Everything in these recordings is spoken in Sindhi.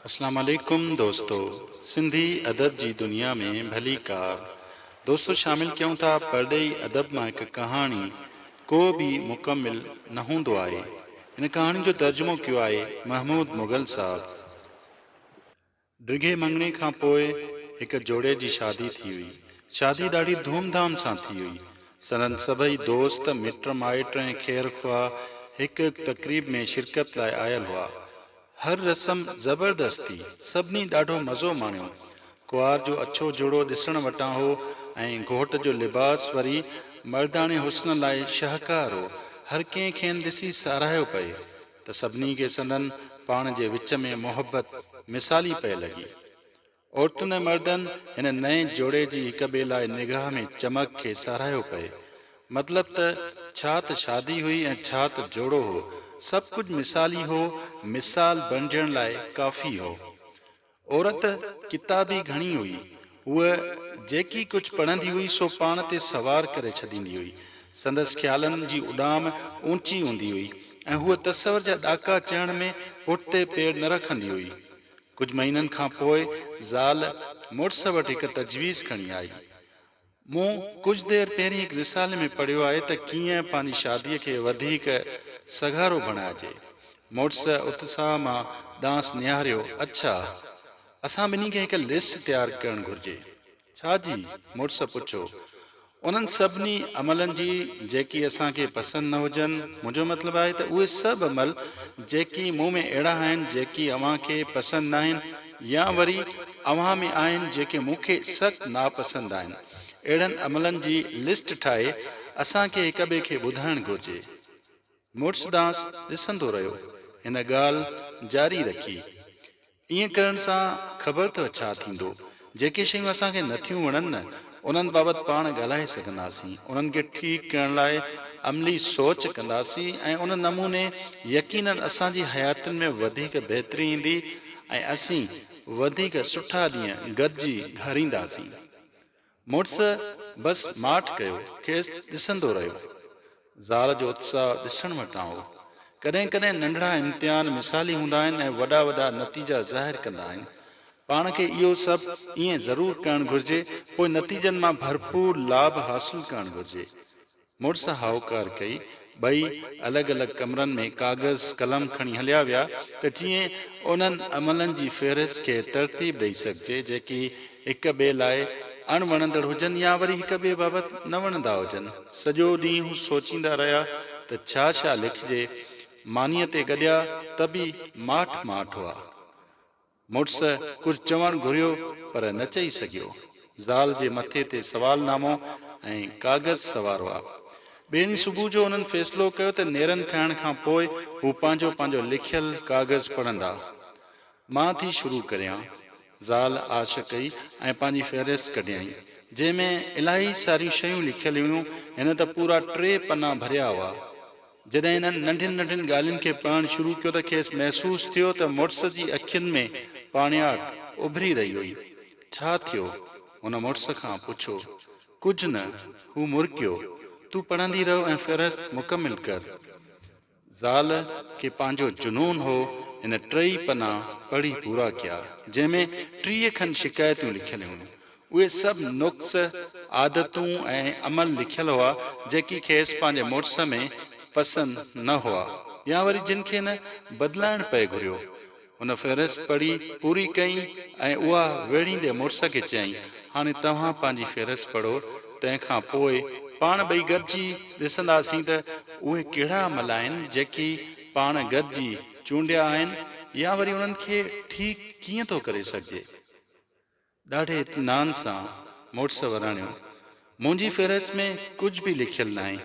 اسلام عليڪم دوستو سنڌي ادب جي دنيا ۾ ڀلي ڪار دوستو شامل ڪيون ٿا پرڏيهي ادب مان هڪ ڪهاڻي ڪو به مڪمل نه هوندو آهي ان ڪهاڻي جو ترجمو ڪيو آهي محمود مغل صاحب ڊگهي مڱڻي کان پوء هڪ جوڙي جي شادي ٿي هئي شادي ڏاڍي ڌوم ڌام سان ٿي هئي سندن سڀئي دوست، مٽ مائٽ ۽ خير خواهه هڪ هڪ تقريب ۾ شرڪت لاء آيل هئا. هر رسم زبردست ٿي. سڀني ڏاڍو مزو ماڻيو. ڪنوار جو اڇو جوڙو ڏسڻ وٽان هو ۽ گهوٽ جو لباس وري مرداڻي حسن لاء شاهڪار هو. هر ڪنهن کين ڏسي ساراهيو پئي ته سڀني کي سندن پاڻ جي وچ ۾ محبت مثالي پئي لڳي. عورتن ۽ مردن هن نئين جوڙي جي هڪ ٻئي لاء نگاهه ۾ چمڪ کي ساراهيو پئي. مطلب ته ڇا ته شادي هئي ۽ ڇا ته جوڙو هو، سڀ ڪجهه مثالي هو، مثال بڻجڻ لاء ڪافي هو. عورت ڪتابي گهڻي هئي، هوء جيڪي ڪجهه پڙهندي هئي سو پاڻ تي سوار ڪري ڇڏيندي هئي. سندس خيالن جي اڏام اوچي هوندي هئي ۽ هوء تصور جا ڏاڪا چهڻ ۾ پٺتي پير نه رکندي هئي. ڪجهه مهينن کان پوء زال مڙس وٽ هڪ تجويز کڻي آئي. مون ڪجهه دير پهرين هڪ رسالي ۾ پڙهيو آهي ته ڪيئن پنهنجي شاديء کي وڌيڪ سگهارو بڻائجي. مڙس اتساهه مان ڏانهس نهاريو، اڇا! اسان ٻنهي کي هڪ لسٽ تيار ڪرڻ گهرجي. ڇا جي؟ مڙس پڇيو. انهن سڀني عملن جي جيڪي اسان کي پسند نه هجن، منهنجو مطلب آهي ته اهي سڀ عمل جيڪي مون ۾ اهڙا آهن جيڪي اوهان کي پسند ناهن يا وري اوهان ۾ آهن جيڪي مون کي سخت ناپسند آهن. اهڙن عملن جي لسٽ ٺاهي اسان کي هڪ ٻئي کي ٻڌائڻ گهرجي. مڙس ڏانهس ڏسندو رهيو. هن ڳالهه جاري رکي. ائين ڪرڻ سان خبر اٿئو ڇا ٿيندو؟ جيڪي شيون اسان کي نٿيون وڻن نه انهن بابت پاڻ ڳالهائي سگهنداسين، انهن کي ٺيڪ ڪرڻ لاء عملي سوچ ڪنداسين ۽ ان نموني يقينن اسان جي حياتين ۾ وڌيڪ بهتري ايندي ۽ اسين وڌيڪ سٺا ڏينهن گڏجي گهارينداسين. مڙس بس ماٺ ڪيو کيس ڏسندو رهيو. زال جو اتساهه ڏسڻ مٽان هو. ڪڏهن ڪڏهن ننڍڙا امتحان مثالي هوندا آهن ۽ وڏا وڏا نتيجا ظاهر ڪندا آهن. پاڻ کي اهو سڀ ائين ضرور ڪرڻ گهرجي پوء نتيجن مان ڀرپور لاڀ حاصل ڪرڻ گهرجي. مڙس هائوڪار ڪئي. ٻئي الڳ الڳ ڪمرن ۾ ڪاغذ قلم کڻي هليا ويا ته جيئن انهن عملن جي فهرست کي ترتيب ڏئي سگهجي جيڪي هڪ ٻئي لاء اڻ وڻندڙ هجن يا وري هڪ ٻئي بابت نه وڻندا هجن. سڄو ڏينهن هو سوچيندا رهيا ته ڇا ڇا لکجي. مانيء تي گڏيا ته به ماٺ ماٺ هئا. مڙس ڪجهه چوڻ گهريو پر نه چئي سگهيو. زال جي مٿي تي سوال نامو ۽ ڪاغذ سوار هئا. ٻئي ڏينهن صبح جو هنن فيصلو ڪيو ته نيرن کائڻ کان پوء هو پنهنجو پنهنجو لکيل ڪاغذ پڙهندا. مان ٿي شروع ڪريان. زال آڇ ڪئي ۽ پنهنجي فهرست ڪڍيائين. جنهن ۾ الاهي ساريون شيون لکيل هيون. هن ته پورا ٽي پنا ڀريا هئا. جڏهن هنن ننڍين ننڍين ڳالهين کي پڙهڻ شروع ڪيو ته کيس محسوس ٿيو ته مڙس جي اکين ۾ پاڻياٺ اڀري رهي هئي. ڇا ٿيو؟ هن مڙس کان پڇو. ڪجهه نه. هو مرڪيو. تون پڙهندي رهه ۽ فهرست مڪمل ڪر. زال کي پنهنجو جنون هو، هن ٽيئي پنا پڙهي پورا ڪيا، جنهن ۾ ٽيهه کن شڪايتون لکيل هيون. اهي سڀ نقص، عادتون ۽ عمل لکيل هئا، جيڪي کيس پنهنجي مڙس ۾ پسند نه هئا يا وري جن کي نه بدلائڻ پئي گهريو. هن فهرست پڙهي پوري ڪئي ۽ اها ويڙهيندي مڙس کي چيائين، هاڻي توهان پنهنجي فهرست پڙهو، تنهن کان پوء پاڻ ٻئي گڏجي ڏسنداسين ته اهي ڪهڙا عمل آهن، جيڪي پاڻ گڏجي چونڊيا آهن يا وري انهن کي ٺيڪ ڪيئن ٿو ڪري سگهجي. ڏاڍي اطمينان سان مڙس وراڻيو، منهنجي فهرست ۾ ڪجهه به لکيل ناهي.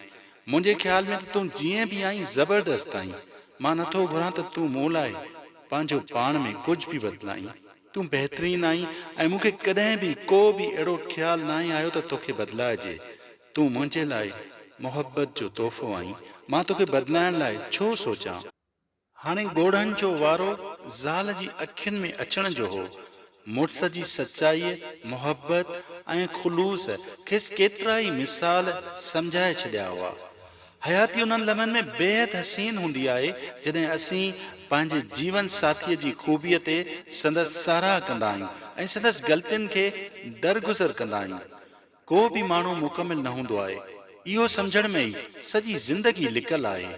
منهنجي خيال ۾ ته تون جيئن به آهين زبردست آهين. مان نٿو گهران ته تون مون لاء پنهنجو پاڻ ۾ ڪجهه به بدلائين. تون بهترين آهين ۽ مون کي ڪڏهن به ڪو به اهڙو خيال ناهي آيو ته توکي بدلائجي. تون منهنجي لاء محبت جو تحفو آهين. مان توکي بدلائڻ لاء ڇو سوچان؟ هاڻي ڳوڙهن جو وارو زال جي اکين ۾ اچڻ جو هو. مڙس جي سچائيء، محبت ۽ خلوص کيس ڪيترائي مثال سمجهائي ڇڏيا هئا. حياتي انهن لمحن ۾ بيحد حسين هوندي آهي، جڏهن اسين پنهنجي جيون ساٿيء جي خوبيء تي سندس ساراهه ڪندا آهيون ۽ سندس غلطين کي درگذر ڪندا آهيون. ڪو به ماڻهو مڪمل نه هوندو آهي، اهو سمجهڻ ۾ ئي سڄي زندگي لڪل آهي.